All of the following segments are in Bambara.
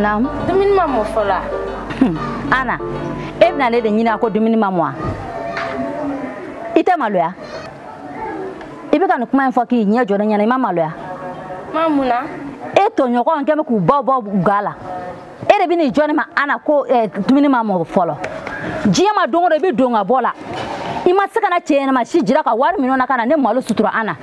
Naamu. Dumuni ma mɔ fɔlɔ wa? Hmm. Ana, e bɛna ne de ɲininka ko dumuni ma mɔ wa? I tɛ maloya. I bɛ ka nin kuma in fɔ k'i ɲɛ jɔ ne ɲɛna, i ma maloya. Ma mun na? E tɔɲɔgɔnw kɛ bɛ k'u baw bɔ ga la. e de bɛ n'i jɔ ne ma ana ko eh, dumuni ma mɔ fɔlɔ diɲɛ ma don o don i bɛ don ka bɔ la i ma se ka na cɛ ɲɛnama si jira ka wari minɛ o la ka na ne malo sutura ana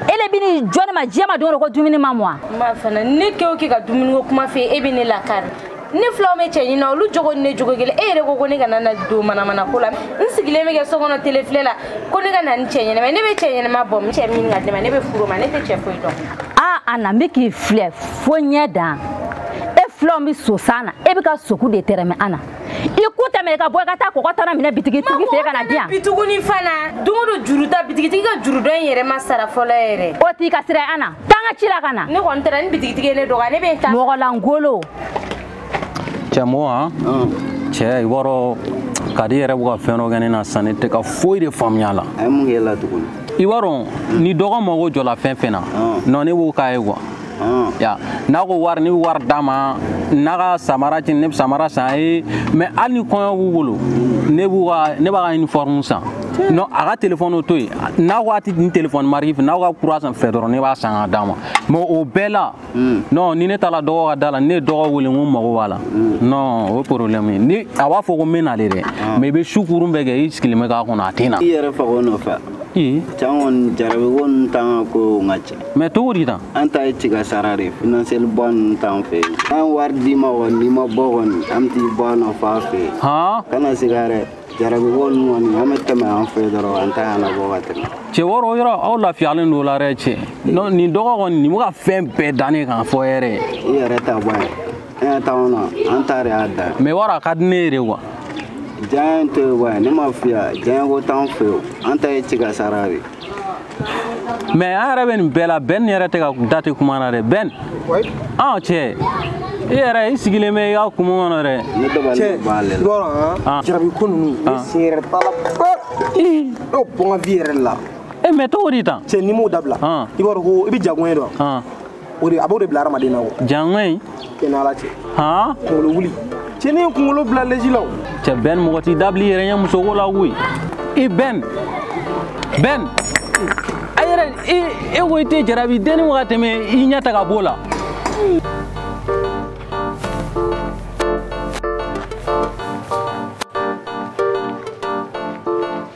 e de bɛ n'i jɔ ne ma diɲɛ ma don ko dumuni ma mɔ ma fana ne kɛ o kɛ ka dumuni ko kuma fɔ e bɛ ne lakari ne filanw bɛ cɛ ɲini na olu jogo ni ne jogo kelen e yɛrɛ ko ko ne kana na don manamana ko la n sigilen bɛ kɛ so kɔnɔ tele filɛ la ko ne ka na ni cɛ ɲɛnama ne bɛ cɛ ɲɛnama bɔ cɛ min ka dɛmɛ ne bɛ furu ma ne tɛ cɛ foyi dɔn ana n bɛ k'i filɛ fo ɲɛ dan e filanw bɛ sosan na e bɛ ka soku de tɛrɛmɛ ana i ku tɛmɛ ka bɔ i ka taa kɔkɔ tan na minɛ bitigitigi fɛ ka na di yan bi tuguni fana don o don juru ta bitigitigi ka juru dɔ in yɛrɛ ma sara fɔlɔ yɛrɛ o t'i ka sira ana taa n ka ci la ka na ne kɔni taara ni bitigitigi ye ne dɔgɔya ne bɛ n ta mɔgɔ lankolon cɛmɔgɔ han cɛ i b'a dɔn kadi yɛrɛ bɛ ka fɛn dɔ kɛ ne na sisan ne tɛ ka foyi de faamuya a la a ye mun kɛ i la tuguni i b'a dɔn ni dɔgɔ mago jɔla fɛn fɛn na non ne b'o k'a ye kuwa Ah. ya n'a ko wari ne bɛ wari d'a ma n'a ka samara ti ne bɛ samara san a ye mɛ hali ni kɔɲɔ b'u bolo ne b'u ka ne b'a ka uniforme san non a ka telefɔni o to yen n'a ko a tɛ nin telefɔni mariki fɛ n'aw ka kura san fɛ dɔrɔn ne b'a san ka d'a ma mɛ o bɛɛ la hmm. non ni ne taara dɔgɔ ka da la ne ye dɔgɔ wele n ko n mago b'a la hmm. non o ye problème ye ni a b'a fɔ ko n bɛ na de dɛ ah. mɛ i bɛ su kuuru bɛɛ kɛ i sigilen bɛ k'a kɔnɔ a tɛ na i yɛrɛ faga o nɔfɛ ee cɛ an kɔni jarabi ko ninnu t'an ka kow ka ca mɛ cogo di tan an ta ye tiga sara de finansiyɛli bɔ ninnu t'an fɛ yen an wari d'i ma kɔni n'i ma bɔ kɔni an bɛ t'i bɔ a nɔfɛ a fɛ yen kana siga dɛ jarabi ko ninnu kɔni an bɛ tɛmɛ an fɛ dɔrɔn an t'a ɲɛnabɔ ka tɛmɛ cɛ i b'a dɔn o yɔrɔ aw lafiyalen don o la dɛ cɛ nin dɔgɔ kɔni nin bɛ ka fɛn bɛɛ dannen k'a fɔ yɛrɛ i yɛrɛ ta bɔ ye an y'a t'anw na an ta de y'a dan mɛ i b'a dɔn a ka di ne ye de kuwa diɲɛ tɛ bɔ ye ne ma fiya diɲɛ ko t'an fɛ yen an ta ye tiga sara de mɛ an yɛrɛ bɛ nin bɛɛ la bɛn yɛrɛ tɛ ka da tɛ kuma na dɛ bɛn an cɛ i yɛrɛ i sigilen bɛ i ka kuma kɔnɔ dɛ jarabi ko ninnu ne sen yɛrɛ t'a la n'o bɔ n ka vi yɛrɛ la e mɛ cogo di tan cɛ n'i m'o dabila i b'a dɔn ko i bɛ jago ɲɛdɔn o de a b'o de bila hadamaden na o janŋa in e ni ala cɛ han kunkolo wuli cɛnin ye kunkolo bila leji la o cɛ bɛn mɔgɔ t'i dabili yɛrɛ ɲɛ musoko la koyi i bɛn bɛn a yɛrɛ e ko i tɛ jarabi dennin wa ka tɛmɛ i ɲɛ ta ka b'o la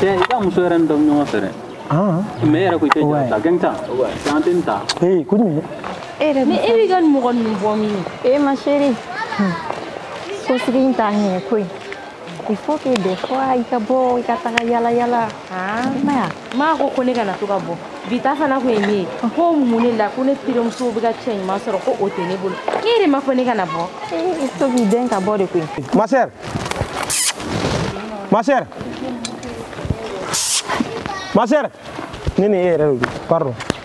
cɛ i ka muso yɛrɛ ni dɔn ɲɔgɔn fɛ dɛ mais e yɛrɛ ko i tɛ jɔ ta gɛn ta an tɛ nin ta ee ko nin e yɛrɛ mais e b'i ka nin mɔgɔ ninnu bɔ min e ma chérie so sigi in t'a ɲɛ koyi il faut que des fois i ka bɔ i ka taga yala yala i ma ya ma ko ko ne kana to ka bɔ bi ta fana kun ye min ye ko mun ne la ko ne terimuso bɛ ka cɛ ɲuman sɔrɔ ko o tɛ ne bolo ne yɛrɛ ma fɔ ne kana bɔ to k'i den ka bɔ de koyi ma sœur ma sœur ma sœur ne ni e yɛrɛ de don pardon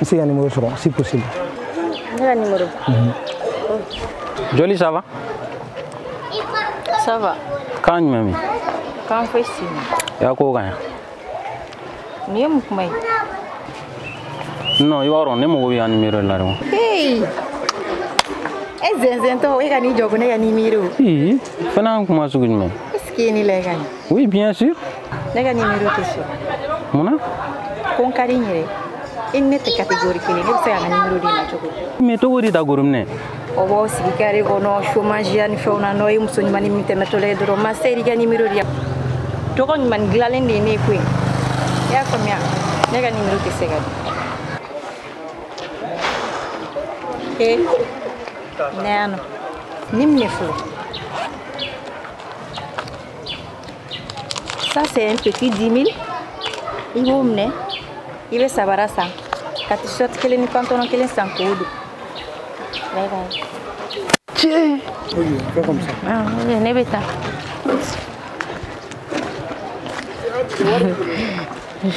n se ka numéro sɔrɔ si possible ne ka numéro mhm. jolie ça va ça va quand même min kan foyi si ma y'a ko kan ya nin ye mun kuma ye non i b'a dɔn ne mago b'i ka numéro la dɔrɔn hey e zɛnzɛntɔ e ka n'i jɔ ko ne ka numéro fana kuma sugu jumɛn est ce que ne la ka ɲi Oui, bien sûr. Ne ka numéro tɛ sɔrɔ. Mun na? Ko n ka di n yɛrɛ. I ni ne tɛ catégorie kelen ne bɛ se ka n ka numéro d'i ma cogo di? Mais catégorie ta kɔrɔ mun ye? Aw b'aw sigi carré kɔnɔ chômage ya ni fɛnw na n'aw ye muso ɲumannin min tɛmɛtɔla ye dɔrɔn ma chérie i ka numéro di yan. Tɔgɔ ɲuman dilanlen de ye ne ye koyi. I y'a faamuya? Ne ka numéro tɛ se ka di. Ee, na yan o. Nin minɛ fɔlɔ. ça c'est un petit 10 000 i b'o minɛ i bɛ sabara san ka t-shirt kelen ni pantalon kelen san k'o don bye bye tiɲɛ ne bɛ taa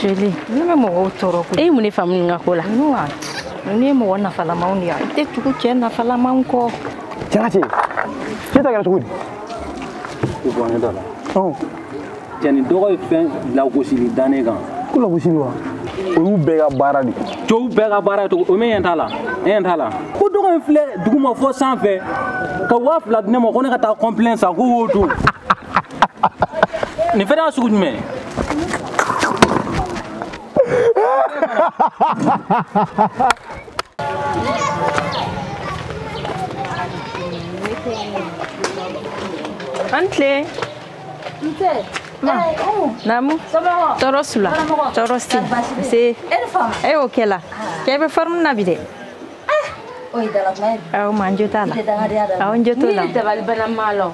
jolie ne bɛ mɔgɔw tɔɔrɔ ko e ye mun de faamu nin ka ko la n'i ye mɔgɔ nafalamaw de ye i tɛ tugu cɛ nafalamaw kɔ jati ne ta kɛra cogo di ko bɔ ne da la cɛnin dɔ ka fɛn lagosili da ne kan ko lagosili wa o y'u bɛɛ ka baara de cɛw bɛɛ ka baara ye cogo o min ɲɛ t'a la e ɲɛ t'a la ko dɔ ka n filɛ duguma fo sanfɛ ka waa fila di ne ma ko ne ka taa complet san k'o don nin fɛnɛ y'a sugu jumɛn ye aw ni tile namu tɔɔrɔ su la tɔɔrɔ si tɛ nse e y'o kɛ la k'e bɛ forme na bi dɛ aw ma n jo t'a la aw n jo t'o la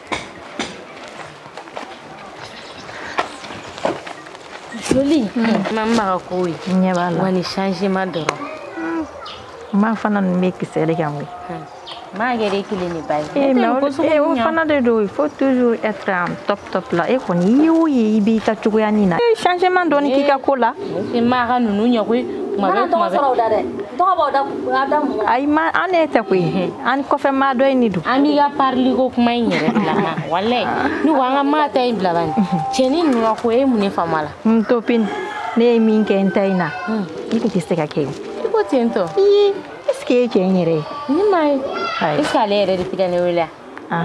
joli ma n baga ko ye ɲɛ b'a la wa ni changement dɔrɔn ma fana nin bɛ kisɛ de kan koyi m'a kɛ den kelen de ba ye ee mais o fana de don il faut toujours être en top top la e kɔni i y'o ye i b'i ka cogoya ni na changement dɔɔni k'i ka ko la i ma ka ninnu ɲɛ koyi tuma bɛɛ tuma bɛɛ sɔrɔ da dɛ tɔgɔ b'aw da a da mun ayi ma an ne tɛ koyi an kɔfɛ maa dɔ in de don an b'i ka parili ko kuma in yɛrɛ bila ma walayi ne ko an ka maa ta in bila bani cɛnin ninnu ka ko e mun ne faamu a la n topini ne ye min kɛ n ta in na i tun tɛ se k'a kɛ i ko ten tɔ i est ce que e cɛ in yɛrɛ ye ne m'a ye est ce que ale yɛrɛ de tɛ ka ne wele a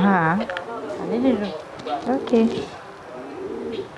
ale de don ok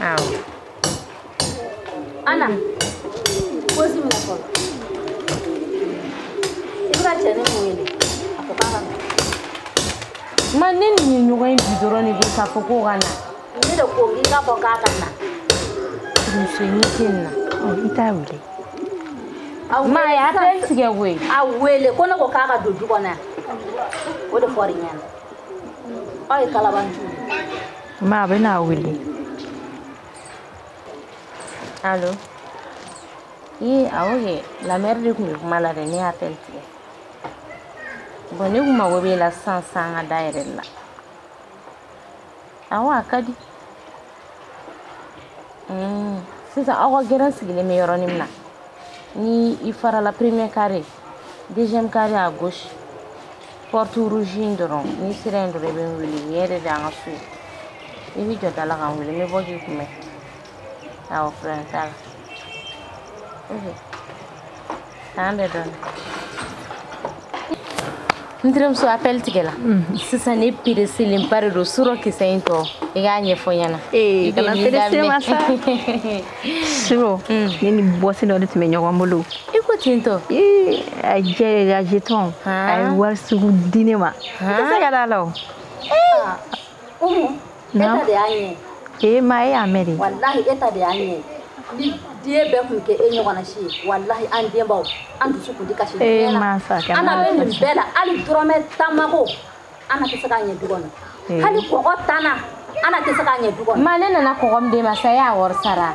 waaw ana ko si mina fɔlɔ i bɛ ka cɛnin min wele a ko k'a ka na ma ne ni nin ɲɔgɔn ye bi dɔrɔn ne bɛ k'a fɔ k'o ka na ne de ko k'i k'a fɔ k'a ka na muso ɲɛ tɛ nin na i t'a wele ma a y'appel tigɛ koyi a wele ko ne ko k'a ka don du kɔnɔ yan o de fɔra i ɲɛna aw ye kalabanci ma n bɛna a wele alo i awo kɛ la mère de tun bɛ kuma la dɛ ne ye appel tigɛ bɔn ne kun mago b'e la sisan san ka da yɛrɛ la awɔ a ka di hmm, sisan aw ka gɛrɛn sigilen bɛ yɔrɔnin min na ni i farala premier carré deuxième carré à gauche porte rouge in dɔrɔn n'i sera yen dɔrɔn i bɛ n wele nin yɛrɛ de y'an ka so ye i bɛ jɔ da la ka n wele n bɛ bɔ k'i kunbɛn waaw frère Talla. Tan de don. N terimuso appel tigɛla. Sisan ne pereselenba de don suro kisɛ in tɔ. I k'a ɲɛfɔ n ɲɛna. Ee kana perese ma sa. Suro ne ni bɔsi dɔ de tun bɛ ɲɔgɔn bolo. I ko ten tɔ. Ee a jɛ de a jetɔn. A ye wari sugu di ne ma. N tɛ se ka d'a la o. Naamu. E ta de y'a ɲɛ ye. Ee ma e y'a mɛn de. Walahi e ta de y'a ɲɛ ye. Ni den bɛɛ tun kɛ e ɲɔgɔnna si ye walahi an denbaw an dusu tun tɛ kasi diɲɛ eh, na. Ana bɛ nin bɛɛ la hali dɔrɔmɛ tan mako Ana tɛ se k'a ɲɛ du kɔnɔ. Eh. Hali kɔgɔ tan na Ana tɛ se k'a ɲɛ du kɔnɔ. Ma ne nana kɔgɔ min d'e ma sa e y'a wari sara.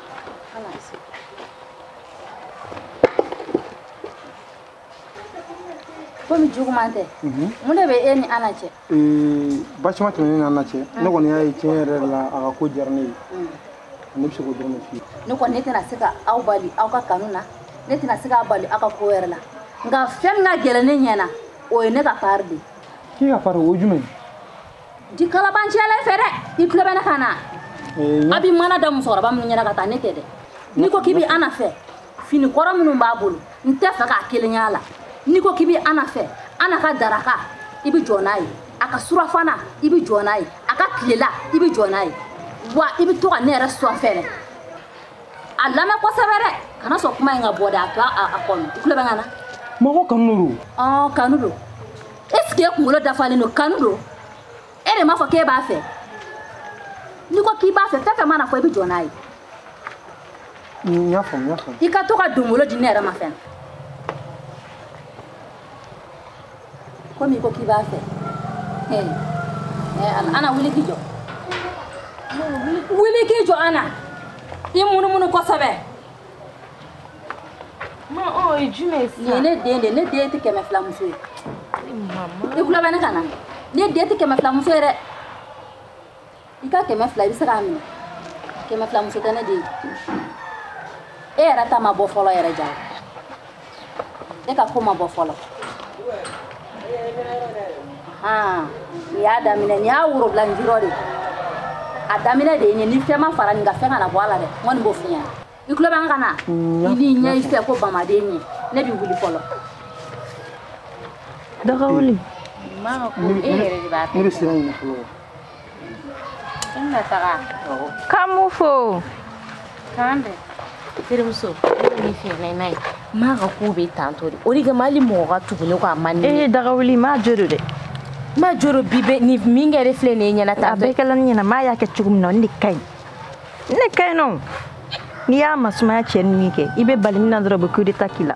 komi juguman tɛ mhm. mun de bɛ e ni ana cɛ baasima tɛ ne ni ana cɛ ne kɔni y'a ye tiɲɛ yɛrɛ la a ka ko diyara ne ye mm. ne bɛ se k'o dɔrɔn de f'i ye ne kɔni ne tɛna se ka aw bali aw ka kanu na ne tɛna se k'a bali aw ka ko yɛrɛ la nka fɛn min ka gɛlɛn ne ɲɛ na o ye ne ka pari de ye k'i ka pari o ye jumɛn ye di kalabancɛlɛ fɛ dɛ i tulo bɛ ne kan na a bi mana da musokɔrɔba minnu ɲɛ na ka taa ne tɛ dɛ n'i ko k'i bi ana fɛ fini kɔrɔ minnu b'a bolo n t'a fɛ k'a kelen y'a la n'i ko k'i bi ana fɛ ana ka daraka i bi jɔ n'a ye a ka surafana i bi jɔ n'a ye a ka tilela i bi jɔ n'a ye wa i bi to ka ne yɛrɛ sɔn fɛnɛ a lamɛn kosɛbɛ dɛ kana sɔn kuma in ka bɔ dɛ a to a kɔnɔ i tulo bɛ n kan na ma ko kanu don kanu don esike e kunkolo dafalen don kanu don e yɛrɛ m'a fɔ k'e b'a fɛ n'i ko k'i b'a fɛ fɛn fɛn mana fɔ i bɛ jɔ n'a ye n y'a faamu n y'a faamu i ka to ka dongolo di ne yɛrɛ ma fɛnɛ komi i ko k'i b'a fɛ ana wuli k'i jɔ wuli k'i jɔ ana i munumunu kosɛbɛ Ma o ye jumɛn ye sisan? Nin ye ne den de ye, ne den tɛ kɛmɛ fila muso ye. Mama. I tulo bɛ ne kan na? Ne den tɛ kɛmɛ fila muso ye dɛ. I ka kɛmɛ fila i bɛ se k'a minɛ. Kɛmɛ fila muso tɛ ne den ye. E yɛrɛ ta ma bɔ fɔlɔ yɛrɛ ja. e ka ko ma bɔ fɔlɔ han nin y'a daminɛ nin y'a worobila n jirɔ de a daminɛ de ye nin ni fɛn ma fara nin kan fɛn kana bɔ a la dɛ n kɔni b'o f'i ɲɛna i tulo bɛ n kan na i n'i ɲɛ i fɛ ko bamaden ɲɛ ne bi wuli fɔlɔ dagawuli e yɛrɛ de b'a fɛ ne bɛ sira ɲini fɔlɔ K'an b'u fo k'an bɛn terimuso ne fiyɛ n'a ye n'a ye ma ka kow bɛ tantɔ de o de kama hali mɔgɔ ka tugu ne kɔ a man di ne ye dagawuli ma jo don dɛ ma jo don bi bɛ ni min kɛra filɛ nin ye ɲɛna tan a bɛɛ kɛla ne ɲɛna ma y'a kɛ cogo min na ne de ka ɲi ne ka ɲi nɔ n'i y'a masumaya cɛ ni min kɛ i bɛ bali min na dɔrɔn u bɛ coup d'état k'i la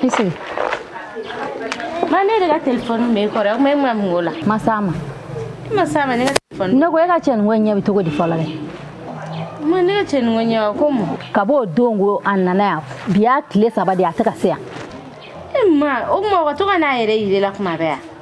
Kisi. Ma ne de ka telefɔni bɛ e kɔrɔ o tuma e bɛ mun k'o la. N ma s'a ma. E ma s'a ma ne ka telefɔni. Ne ko e ka cɛnin koɲa bɛ cogo di fɔlɔ dɛ. Ma ne ka cɛnin koɲa ko mun. Kab'o don ko a nana yan bi y'a tile saba de ye a tɛ ka se yan. Ee ma o tuma o ka to ka n'a yɛrɛ yir'e la tuma bɛɛ wa.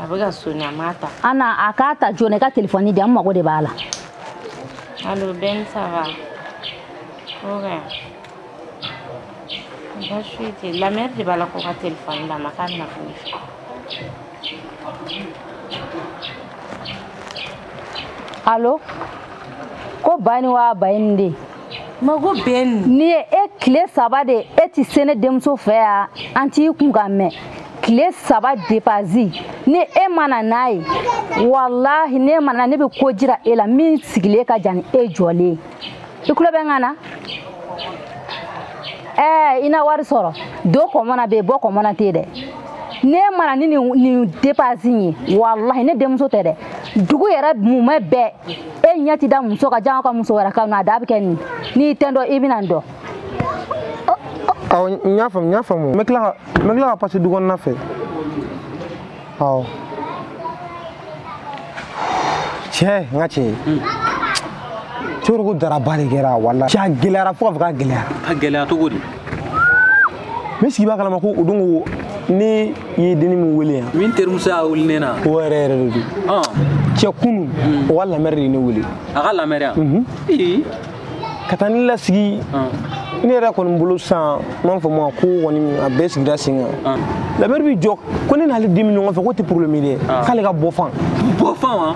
a bɛ ka soni a m'a ta a na a k'a ta joona i ka telefɔni di an mago de b'a la alo beni ça va ok baasi tɛ lamɛri de b'a la ko ka telefɔni d'a ma k'a bɛna fɔ ne fɛ alo ko ba ni wa ba ye nin de ye mago beni n'i ye e kile saba de e ti se ne denmuso fɛ yan an t'i kunkan mɛn kile saba depasi ni e mana n'a ye walahi ne mana na ne bɛ ko jira e la min sigilen ka jan ni e jɔlen i kulo bɛ n kan na ɛɛ i na wari sɔrɔ don kɔmɔ na bɛ yen bɔ kɔmɔ na tɛ dɛ ne mana ni nin depasi ye walahi ne denmuso tɛ dɛ dugu yɛrɛ mumɛ bɛɛ e ɲɛ ti da muso kan janko muso wɛrɛ kan na a da bɛ kɛ nin n'i tɛ n dɔn i bɛna n dɔn awɔ n y'a faamu n y'a faamu n bɛ tila ka n bɛ tila ka pase du kɔnɔna fɛ awɔ cɛ n ka cɛ cɛkɔrɔba daraba de kɛra wala cɛ a gɛlɛyara fo ka fɔ k'a gɛlɛyara ka gɛlɛya cogo di n bɛ sigi b'a kalama ko o don ko ne ye denni min wele yan min terimuso y'a wele ne na o yɛrɛ yɛrɛ de don cɛ kunu o ka lamɛri de ye ne wele a ka lamɛri yan ka taa ne lasigi ne yɛrɛ kɔni bolo sisan n b'a fɔ ma ko ko nin a bɛɛ sigira sen kan lamɛri bɛ jɔ ko ne n'ale den bɛ ɲɔgɔn fɛ k'o tɛ problème ye dɛ k'ale ka bɔ fan bɔ fan wa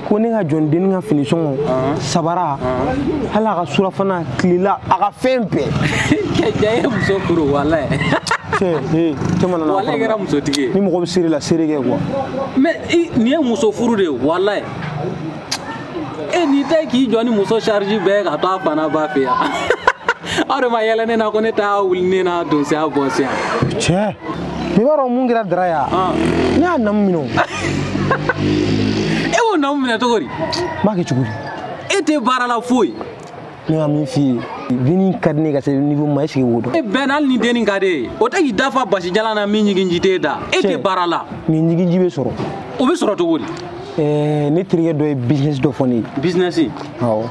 ko ne ka jɔ ni denni ka fini sɔngɔ sabara hali a ka surafana tilela a ka fɛn bɛɛ cɛ ye muso furu walahi tɛmɛna walahi kɛra musotigi ye ni mɔgɔ bɛ sérieux la sérieux kɛ quoi mais nin ye muso furu de ye walahi e n'i tɛ k'i jɔ ni muso charge bɛɛ ka to a fa n'a ba fɛ yan aw de ma yɛlɛ ne na ko ne t'a wuli ne na donsiya bɔnsiya cɛ i b'a dɔn mun kɛra dara yan ne y'a namu minɛ o e y'o namu minɛ cogo di n b'a kɛ cogo di e tɛ baara la foyi ne ka min f'i ye denni ka di ne ka se niveau ma est-ce que o dɔn e beni hali ni denni ka di i ye o tɛ k'i da fa basi jalan na min ɲiginji t'e da e tɛ baara la mais ɲiginji bɛ sɔrɔ o bɛ sɔrɔ cogo di eh, ne terikɛ dɔ ye business dɔ fɔ ne ye business awɔ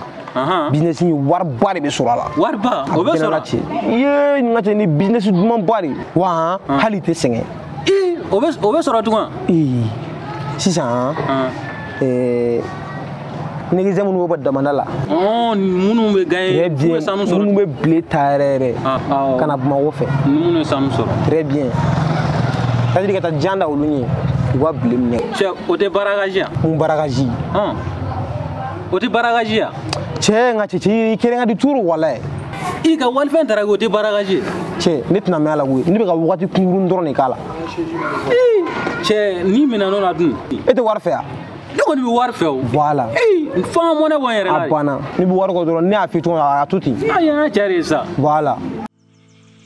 business in wariba de bɛ sɔrɔ a la wariba o bɛ sɔrɔ a bɛɛ n'a cɛ i ye n ka cɛ ni business dumanba de ye wa hali i tɛ sɛgɛn o bɛ o bɛ sɔrɔ tugun ee sisan ee negizɛ minnu bɛ bɔ damanda la minnu bɛ gagner minnu bɛ sanu sɔrɔ minnu bɛ bile ta yɛrɛ yɛrɛ ka na bamakɔ fɛ ni minnu ye sanu sɔrɔ très bien c'est-à-dire ka taa jan da olu ɲɛ u ka bile minɛ cɛ o tɛ braquage ye wa mun braquage o tɛ braquage ye wa cɛ n ka cɛ cɛ i kelen ka di trop walahi i ka walifɛn tara o tɛ braquage ye cɛ ne tɛna mɛn a la koyi ne bɛ ka wagati kunkurun dɔrɔn de k'a la cɛ n'i minɛn'o la dun e tɛ wari fɛ yan ne kɔni bɛ wari fɛ o voilà fo n ka mɔnɛ bɔ n yɛrɛ la a banna ne bɛ wari kɔ dɔrɔn ne y'a f'i tɔgɔ a to ten a y'a cɛ de ye sa voilà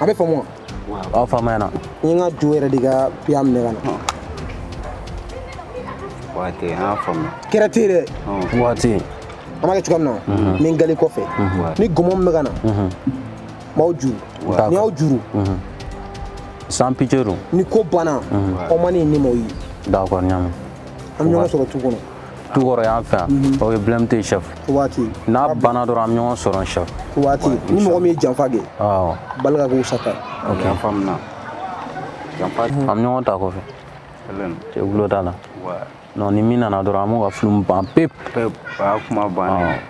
a bɛ faamu wa aw faamuyana n ye n ka jo yɛrɛ de ka piya minɛ ka na waati an y'a faamu kɛra ten dɛ waati an b'a kɛ cogoya min na n bɛ n gali kɔfɛ ni gɔmɔ min bɛ ka na n b'aw juru ni y'aw juru sans pitié don ni ko banna aw ma ne ye ne m'aw ye d'accord ɲaamu an bɛ ɲɔgɔn sɔrɔ tu kɔnɔ tu kɔrɔ yanfɛ yan mhm. ok blème tɛ yen chef waati n'a banna dɔrɔn an bɛ ɲɔgɔn sɔrɔ chef waati ni mɔgɔ min ye janfa kɛ balle ka k'o sata ok an faamuna janfa mhm. an bɛ ɲɔgɔn ta kɔfɛ cɛ gulo t'a la non ni min nana dɔrɔn an b'o ka film ban pewu pewu a kuma bannen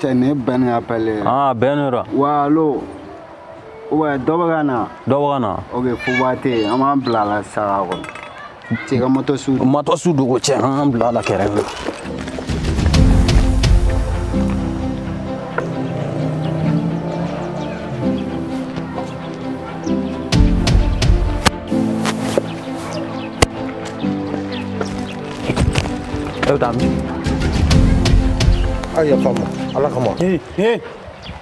cɛ nin ye bɛn ka appel ye aa bɛn de la wa alo ouais dɔ bɛ ka na dɔ bɛ ka na ok fuba tɛ yen an b'an bila a la saga kɔnɔ cɛ ka moto su moto su dogo cɛ an k'an bila a la kɛrɛfɛ Eu da mi. A ye yafa ma ala kama. Ee ee.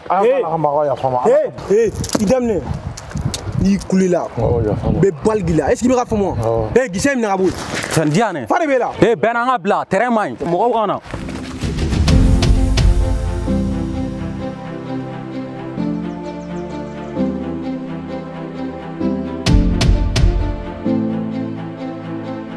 Ala kama aw yafa ma. Ee ee i da minɛ. N'i kulela. Awɔ yafa ma. Bɛ balle k'i la est ce que i bɛ ka faamu wa. Awɔ. Ee gisɛ minɛ ka bɔ yen. Fɛn di yan ee. Fa de b'e la. Ee Bɛn an ka bila terrain man ɲi mɔgɔw ka na.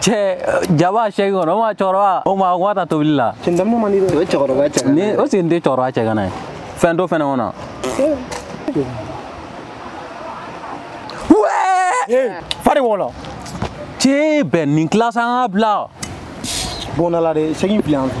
cɛ jaba sɛgi kɔnɔ o ma cɛkɔrɔba o ma o ma ta tobili la cɛndamu man di dɛ o ye cɛkɔrɔba cɛ ni o sigi n tɛ cɛkɔrɔba cɛ kana ye fɛn to fɛnɛ kɔnɔ fari wɔlɔ cɛ bɛn nin classe an ka bila bɔnna la dɛ sɛgi fili an fɛ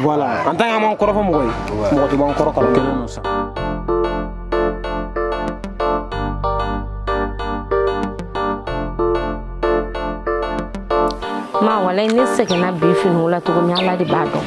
voilà an tan k'an kɔrɔfɔ mɔgɔ ye mɔgɔ tɛ b'an kɔrɔ kalo kelen don sa ma walayi ne sɛgɛnna bi finiko la cogo min ala de b'a dɔn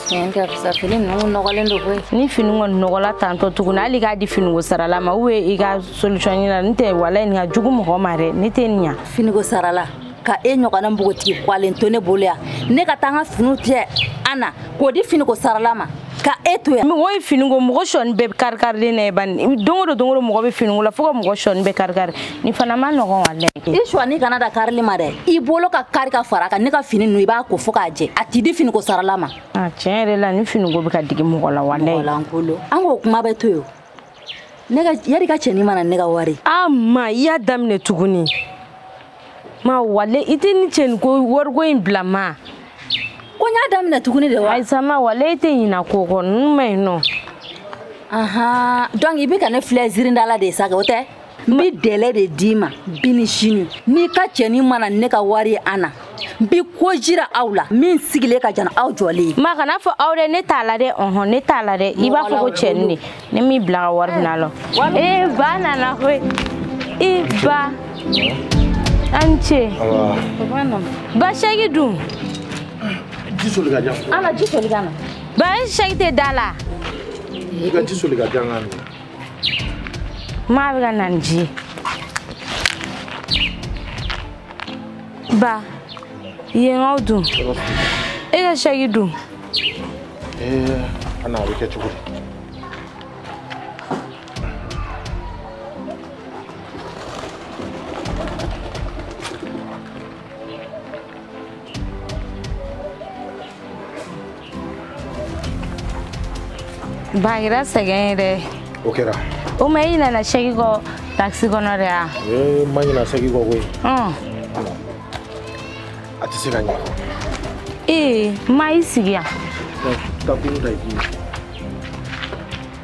tiɲɛ tɛ fisa fini ninnu nɔgɔlen don koyi ni fini kɔni nɔgɔla tantɔ tuguni hali i k'a di finiko sarala ma ou i ka solution ɲini nɔntɛ walayi nin ka jugu mɔgɔ ma dɛ ne tɛ nin ɲa finiko sarala ka e ɲɔgɔnna npogotigi kwalen to ne bolo yan ne ka taa n ka finiw cɛ Ana k'o di finiko sarala ma ka e to yan mɔgɔ ye fini ko mɔgɔ sɔni bɛɛ karikarilen na ye bani don o don don o don mɔgɔ bɛ finiko la fo ka mɔgɔ sɔni bɛɛ karikari nin fana man nɔgɔn walayi i sɔni kana dan karili ma dɛ i bolo ka kari ka fara a kan ne ka fini ninnu i b'a ko fo k'a jɛ a tɛ di finiko sarala ma tiɲɛ yɛrɛ la ni finiko bɛ ka digi mɔgɔ la walayi an k'o kuma bɛɛ to yen yari i ka cɛnin ma na ne ka wari a ah, ma i y'a daminɛ tuguni ma walayi i tɛ nin cɛninko wariko in bila ma ko n y'a daminɛ tuguni de wa ayisa ma walayi i tɛ ɲina ko kɔ ninnu man ɲi nɔ ahan donc i bɛ ka ne filɛ zirindala de ye sa kɛ o tɛ n bɛ dɛlɛ de d'i ma bi ni sini n'i ka cɛnin ma na ne ka wari ye Ana n bɛ ko jira aw la min sigilen ka jan aw jɔlen ye. ma kan'a fɔ aw dɛ ne t'a la dɛ ɔhɔn ne t'a la dɛ i b'a fɔ ko cɛnin de ne m'i bila ka wari minɛ a la. ee ba nana koyi i ba a ni ce. ba sɛki dun. ji soli k'a di yan. Ana ji soli ka na. ba e sɛki tɛ da la. i ka ji soli k'a di yan k'a min. Ma bɛ ka na ni ji ye. Ba, yenkaw dun? E ka sɛki dun? Ee, Ana a bɛ kɛ cogo di? Bagira sɛgɛn yɛrɛ o kɛra o ma i ɲinana sɛki kɔ takisi kɔnɔ de ya ee n ma ɲina sɛki kɔ koyi a tɛ se ka ɲɛ ee ma i sigi yan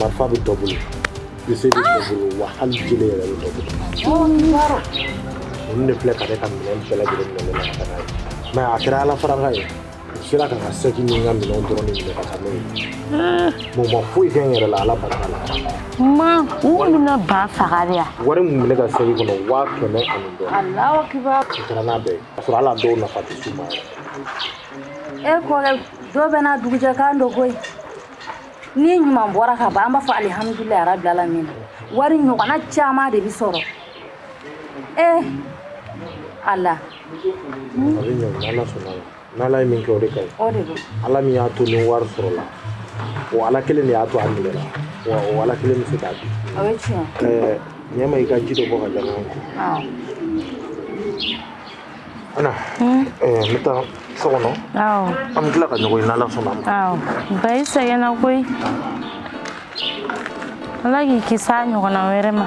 marifa bɛ dɔ bolo bese bɛ dɔ bolo wa hali jele yɛrɛ bɛ dɔ bolo olu de filɛ ka ne ka minɛn bɛɛ lajɛlen minɛ ne la ka taa n'a ye mɛ a kɛra ala faraka ye u sera ka n ka sɛki ni n ka minɛnw dɔrɔn de minɛ ka taa n'o ye mɛ u ma foyi kɛ n yɛrɛ la ala barika la ma u kɔni bɛna ba faga de yan wari min bɛ ne ka sɛki kɔnɔ waa kɛmɛ ani dɔɔni alahu akibar u kɛra n'a bɛɛ ye k'a sɔrɔ hali a dɔw nafa tɛ s'u ma yɛrɛ e kɔrɛ dɔ bɛ na dugujɛkan dɔ koyi ni ɲuman bɔra ka ban an b'a fɔ alihamudulilayi rabili alamin wari ɲɔgɔnna caman de bɛ sɔrɔ ee eh, ala a bɛ ɲɛ n'ala sɔnna n'ala ye min kɛ o de ka ɲi ala min y'a to nin wari sɔrɔla o ala kelen de y'a to a minɛna wa o ala kelen bɛ se k'a di ɲɛma i ka ji dɔ bɔ k'a di a ma Ana, eh, n bɛ taa so kɔnɔ awɔ an bɛ tila ka ɲɔgɔn ye n'ala sɔnna a ma awɔ ba i sɛgɛnna koyi ala k'i kisi a ɲɔgɔnna wɛrɛ ma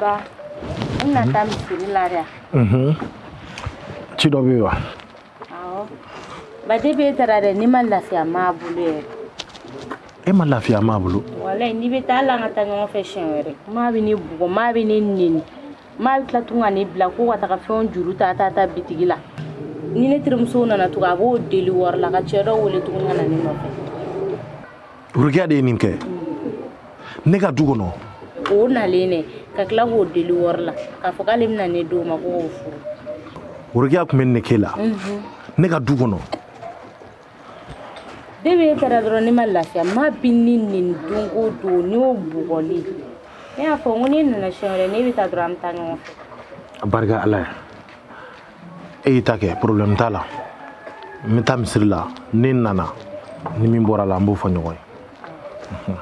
ba i na taa misiri la ya mhm. ci dɔ bɛ wa awɔ ba depuis e taara dɛ ne ma lafiya maa bolo yɛrɛ e ma lafiya maa bolo walayi n'i bɛ taa ala an ka taa ɲɔgɔn fɛ siɲɛ wɛrɛ maa bɛ ne bugɔ maa bɛ ne neni maa bɛ tila tugun ka ne bila ko ka taga fɛnw juru ta ta ta bitigi la ni ne terimuso nana tugun a b'o deli wari la ka cɛ dɔ wele tuguni ka na ne nɔfɛ worokiya de ye nin kɛ ne ka du kɔnɔ o nalen de ka tila k'o deli wari la k'a fɔ k'ale bɛna ne d'o ma ko k'o furu worokiya tun bɛ nin kɛ la ne ka du kɔnɔ depuis e taara dɔrɔn ne ma lafiya maa bɛ ne neni don o don neni o bugɔli ne y'a fɔ n ko n'e nana siɲɛ wɛrɛ n'e bɛ taa dɔrɔn an bɛ taa ɲɔgɔn fɛ a barika ala ye e y'i ta kɛ problème t'a la n bɛ taa misiri la ne nana ni min bɔra la an b'o fɔ ɲɔgɔn ye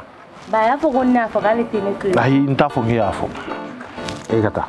ba a y'a fɔ ko ne y'a fɔ k'ale tɛ ne to yen ayi n t'a fɔ k'e y'a fɔ e ka taa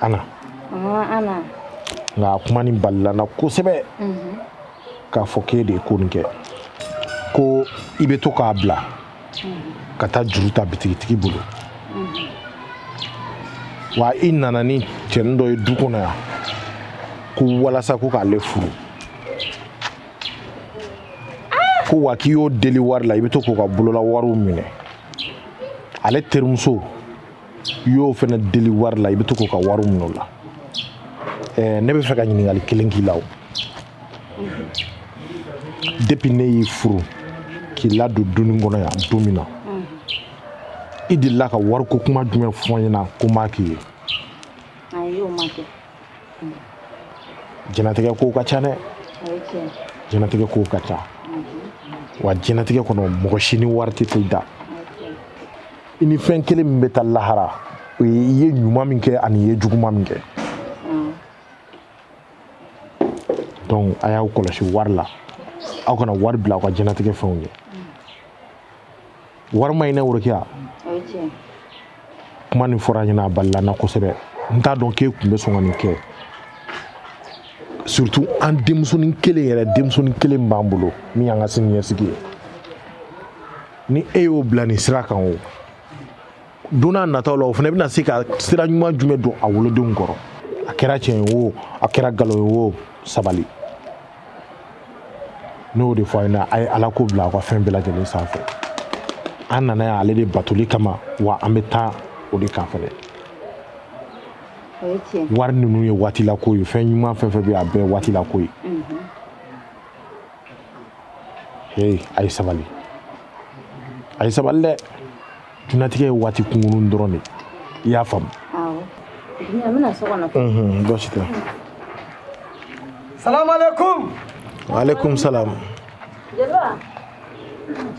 ana ana nka a kuma nin balila n na kosɛbɛ k'a fɔ k'e de ye ko nin kɛ ko i bɛ to k'a bila ka taa juru ta bitigitigi bolo wa i nana ni cɛnin dɔ ye du kɔnɔ yan ko walasa ko k'ale furu ko wa k'i y'o deli wari la i bɛ to k'o ka bolola wariw minɛ ale terimuso i y'o fana deli wari la i bɛ to k'o ka wari minɛ o la ɛɛ ne bɛ fɛ ka ɲininkali kelen k'i la o depuis ne y'i furu k'i ladon dunin kɔnɔ yan don min na i delila ka wariko kuma jumɛn fɔ n ɲɛna ko n b'a k'i ye ayi o ma kɛ jɛnatigɛ kow ka ca dɛ o ye tiɲɛ jɛnatigɛ kow ka ca wa jɛnatigɛ kɔnɔ mɔgɔ si ni wari tɛ t'i da i ni fɛn kelen min bɛ taa lahara o ye i ye ɲuman min kɛ ani i ye juguman min kɛ donc a y'aw kɔlɔsi wari la aw kana wari bila aw ka jɛnatigɛ fɛnw ɲɛ wari ma ɲi dɛ worokiya kuma nin fɔra n ɲɛna a balila n na kosɛbɛ n t'a dɔn k'e tun bɛ sɔn ka nin kɛ surtout an denmusonin kelen yɛrɛ denmusonin kelen b'an bolo min y'an ka sini ɲɛsigi ye ni e y'o bila nin sira kan o don n'a nataw la o fana bɛna se ka sira ɲuman jumɛn don a wolodenw kɔrɔ a kɛra tiɲɛ ye o a kɛra nkalon ye o sabali ne y'o de fɔ a ɲɛna a ye ala ko bila aw ka fɛn bɛɛ lajɛlen sanfɛ an nana yan ale de batoli kama wa an bɛ taa o de kan fɛnɛ wari ninnu ye waati la ko ye fɛn ɲuman fɛn fɛn bɛ a bɛɛ waati la ko ye ee a ye sabali a ye sabali dɛ diɲɛnatigɛ ye waati kunkurun dɔrɔn de i y'a faamu baasi tɛ salamu aleykum waaleykum salam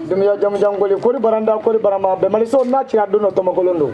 dumiya jamujan koli koli baranda koli barama bɛmaliso n'a cira don dɔ tɔmɔkolon don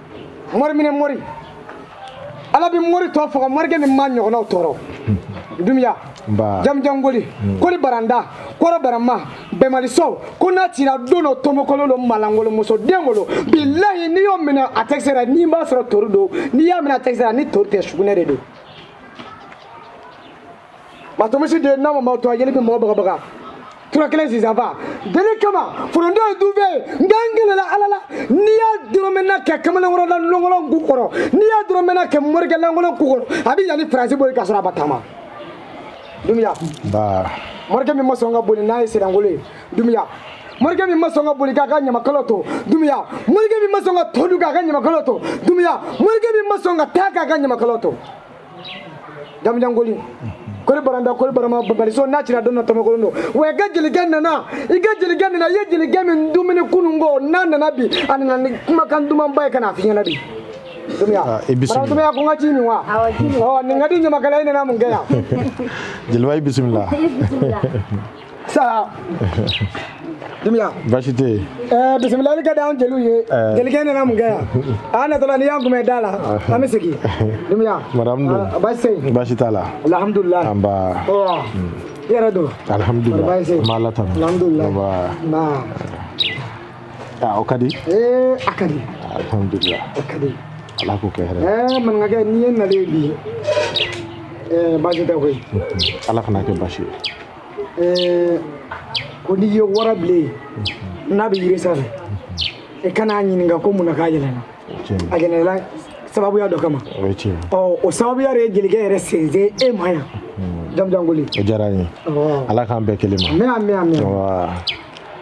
mori minɛ mori ala bɛ mori tɔ faga morikɛ ni ma ɲɔgɔnnaw tɔɔrɔ dumiya jamujan koli hmm. koli baranda kɔrɔ barama bɛmaliso ko n'a cira don dɔ tomokolo lo maa lankolon muso den bolo bilayi n'i y'o minɛ a tɛ se la n'i b'a sɔrɔ tori don n'i y'a minɛ a tɛ se la ni tori tɛ sugunɛ de don matomisi de n'a ma ma to a yeli bɛ mɔgɔ bagabaga tura kelen sisanfa deli kama foronto ye dunfɛn ye nka n gɛlɛla ala la n'i y'a dɔrɔmɛna kɛ kamalenkɔrɔ lankolon ku kɔrɔ n'i y'a dɔrɔmɛna kɛ morikɛ lankolon ku kɔrɔ a bɛ yan ni faransi boli ka sɔrɔ a ma taama dumiya morikɛ min ma sɔn ka boli n'a ye sirangolo ye dumiya morikɛ min ma sɔn ka boli k'a ka ɲamakalo to dumiya morikɛ min ma sɔn ka to dun k'a ka ɲamakalo to dumiya morikɛ min ma sɔn ka taa k'a ka ɲamakalo to jamujan koli koli baranda koli barama baliso n'a cira dɔn na tɔmɔkolon don wa i ka jelikɛ nana i ka jelikɛ nana i ye jelikɛ min dumuni kunun ko n'a nana bi a nana ni kumakan dumanba ye ka n'a f'i ɲɛna bi ah, i bisimila dumiya ko n ka ji min wa ɔ nin ka di ɲamakala i nana mun kɛ yan jeliba i bisimila saha dumiya baasi tɛ yen ɛɛ bisimilali ka di anw jeliw ye jelikɛ nana mun kɛ yan a natɔla n'i y'an kunbɛn da la an bɛ segin dumiya madamu dun baasi tɛ yen baasi t'a la alihamudulilayi anba i yɛrɛ dun alihamudulilayi baasi tɛ yen an bɛ ala tanu alihamudulilayi anba nba aa o ka di ee a ka di alihamudulilayi a ka di ala k'o kɛ hɛrɛ ɛɛ maninkakɛ n'i ye n nalen ye bi ɛɛ baasi tɛ koyi ala kan'a kɛ baasi ye eh, ko n'i ye warabilen n'a bɛ yiri sanfɛ i kan'a ɲininka ko mun na k'a yɛlɛna a yɛlɛla sababuya dɔ kama ɔ o sababuya de ye jelikɛ yɛrɛ sensen e ma yan hmm. jamujan koli o diyara n ye ala k'an bɛn kelen ma amiina amiina amiina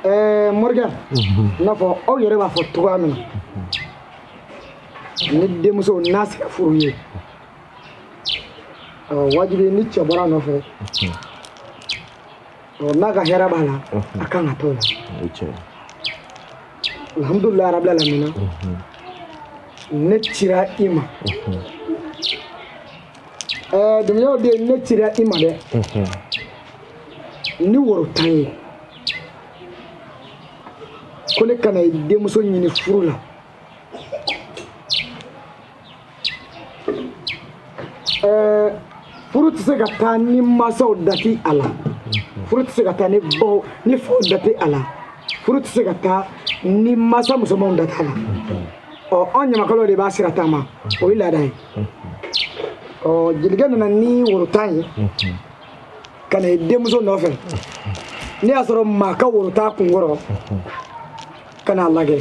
ɛɛ morikɛ i n'a fɔ aw yɛrɛ b'a fɔ cogoya min na ni denmuso n'a sera furu ye wajibi ni cɛ bɔra a nɔfɛ n'a ka hɛrɛ b'a la a kan ka t'o la alhamdulilayi rabi alamina ne cira i ma dumuyaw de ne cira i ma dɛ ni woro tan ye ko ne ka na denmuso ɲini furu la furu tɛ se ka taa ni mansaw da tɛ a la furu tɛ se ka taa ni baw ni faw da tɛ a la furu tɛ se ka taa ni mansa musomanw da tɛ a la ɔ an ɲamakalaw de b'a sira taama o ye laada ye ɔ jelikɛ nana ni woro tan ye ka na i denmuso nɔfɛ n'a y'a sɔrɔ maa ka woro t'a kun kɔrɔ ka n'a lajɛ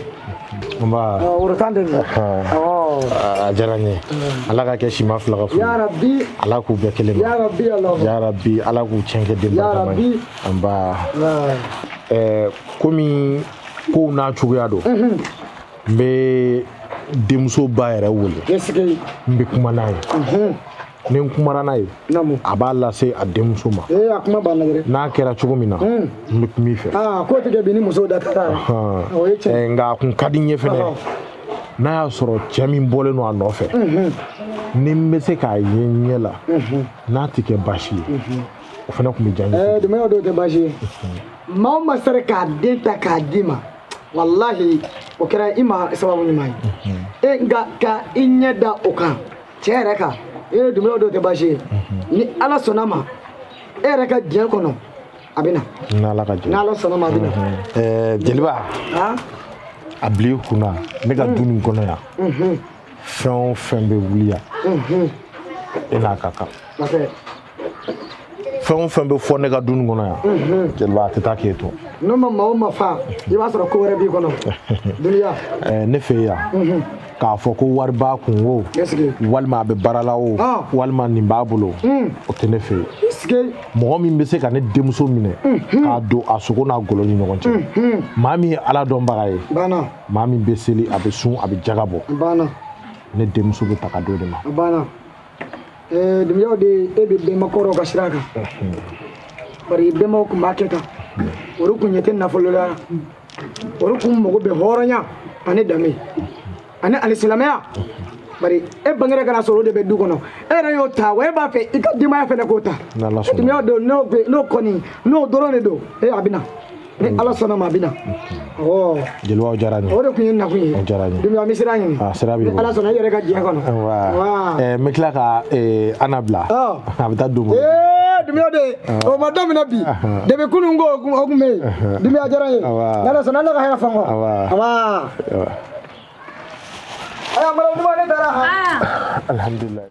nba woro tan de don a diyara n ye ala k'a kɛ sima fila ka furu ala k'u bɛn kelen ma yarabi ala k'u tiɲɛ kɛ den barikama ye nba komi kow n'a cogoya don n bɛ denmuso ba yɛrɛ wele n bɛ kuma n'a ye ni n kumara n'a ye a b'a lase a denmuso ma n'a kɛra cogo min na n bɛ kuma i fɛ nka a kun ka di n ye fɛnɛ n'a y'a sɔrɔ cɛ min bɔlen don a nɔfɛ ni n bɛ se k'a ye n ɲɛ la n'a tɛ kɛ baasi ye o fana tun bɛ diya n ye. dumuyaw de o tɛ baasi ye maa o maa sera k'a den ta k'a d'i ma walahi o kɛra i ma sababu ɲuman ye nka ka i ɲɛ da o kan. cɛ yɛrɛ kan e ye dumuyaw de o tɛ baasi ye ni ala sɔnna a ma e yɛrɛ ka diɲɛ kɔnɔ a bɛ na n'ala ka jɛ n'ala sɔnna a ma a bɛ na ɛɛ jeliba han a bila i kunna ne ka du nin kɔnɔ yan fɛn o fɛn bɛ wuli yan e n'a ka kan masakɛ fɛn o fɛn bɛ fɔ ne ka du nin kɔnɔ yan mhm. jeliba a tɛ taa k'e to n'o ma maa o maa fa i b'a sɔrɔ ko wɛrɛ b'i kɔnɔ duniya eh, ne fɛ yan mhm. k'a fɔ ko wari b'a kun o walima a bɛ baara la o ah. walima nin b'a bolo mm. o tɛ ne fɛ yen mɔgɔ min bɛ se ka ne denmuso minɛ mhm. k'a don a sogo n'a golo ni ɲɔgɔn cɛ maa min ye ala dɔnbaga ye maa min bɛ seli a bɛ sun a bɛ jaga bɔ ne denmuso bɛ ta ka d'o de ma dumuyaw de e bɛ bɛnba kɔrɔw ka sira kan bari bɛnbaw tun b'a kɛ tan olu tun ɲɛ tɛ nafolo la olu tun mago bɛ hɔrɔnya ani danbe ani alisilamɛya bari e bangera ka n'a sɔrɔ o de bɛ du kɔnɔ e yɛrɛ y'o ta wa e b'a fɛ i ka denbaya fana k'o ta dumuyaw de n'o kɔni n'o dɔrɔn de don e a bɛ na ni ala sɔnna ma a bɛ na ɔ jeliba o diyara n ye o de tun ye nakun ye o diyara n ye dumuya n bɛ sira ɲini a sira b'i bolo ala sɔnna i yɛrɛ ka diɲɛ kɔnɔ ɛɛ n bɛ tila ka eh, ana bila a bɛ taa don dumuya de o ma daminɛ bi depi kunun ko o tun bɛ yen dumuya diyara n ye ala sɔnna ala ka hɛrɛ fɔ n kɔ aya mara dumuya ne taara alhamdulilayi